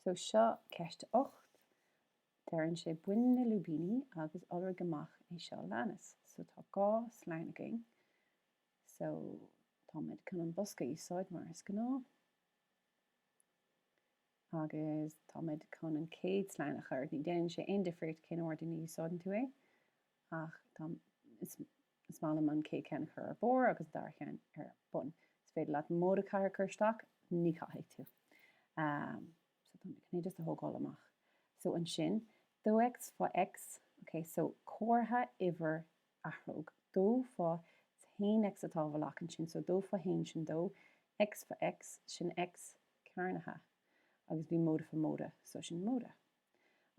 So seo ceist a ocht. Deireann sé bain na lúibíní agus iolraigh amach é seo leanas. So tá dhá slonn againn. So táimid cun an bosca a úsáid mar is gnáth. Agus táimid cun an céad slonn a chur. Ní deineann sé aon difríocht cén ord ina úsáideann tú é ach tá is. Is maith liom an chéad cheann a chur ar barr agus an dara cheann ar bun. Is féidir leat móide 4 a chur isteach, ní chaithfidh tú. Ahm. So tá mé chun é just a thógáil amach. So ansin, dó X fá X, ok, so comhartha uimhir athróg. Dó fá, is 1X atá i bhfolach ansin, so dó fá 1 sin dó, X fá X, sin X cearnaithe. Agus bhí móide fá móide, so sin móide.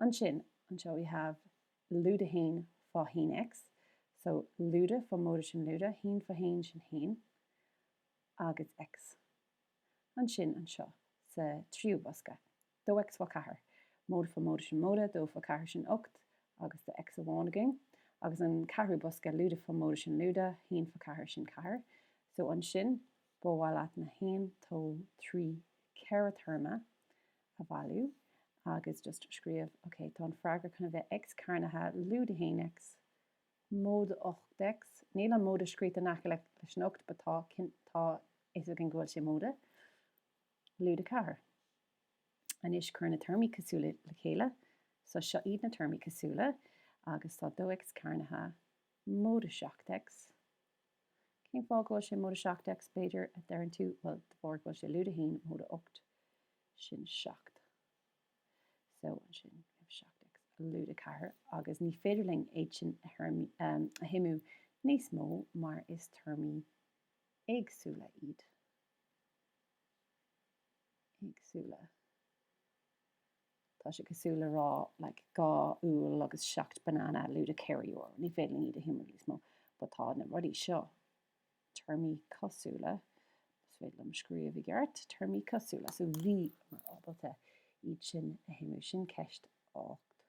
Ansin, anseo we have lúide haon fá haon X, so lúide fá móide sin lúide, haon fá haon sin haon agus X. Ansin anseo sa tríú bosca, dó X fá ceathair, móide fá móide sin móide, dó fá ceathair sin ocht agus tá X amháin againn. Agus an ceathrú bosca, lúide fá móide sin lúide, haon fá ceathair sin ceathair. So ansin ba mhaith leat na haon, dó, trí, ceithre téarma a bhailiú agus just scríobh ok tá an freagra chun a bheith X cearnaithe lúide 1X móide 8X níl an móide scríte in aice leis an 8 but tá tá a fhios againn go bhfuil sé móide lúide 4. Anois cuir na téarmaí cosúla le chéile so seo iad na téarmaí cosúla agus tá 2X cearnaithe móide 7X, Cén fáth go bhfuil sé móide 7 X, b'fhéidir, a deireann tú? Bhuel, de bharr go bhfuil sé lúide 1, móide 8, sin 7. So, ansin, we have 7 X lúide 4, agus ní féidir linn iad sin a shuimiú níos mó mar is téarmaí éagsúla iad. éagsúla. Tá sé cosúil le rá like dhá úll agus seacht banana lúide ceithre euro. Ní féidir linn iad a shimpliú níos mó. But tá na rudaí seo, téarmaí cosúla, is féidir liom scríobh i gceart, téarmaí cosúla, so bhíomar ábalta iad sin a shuimiú. Sin ceist 8.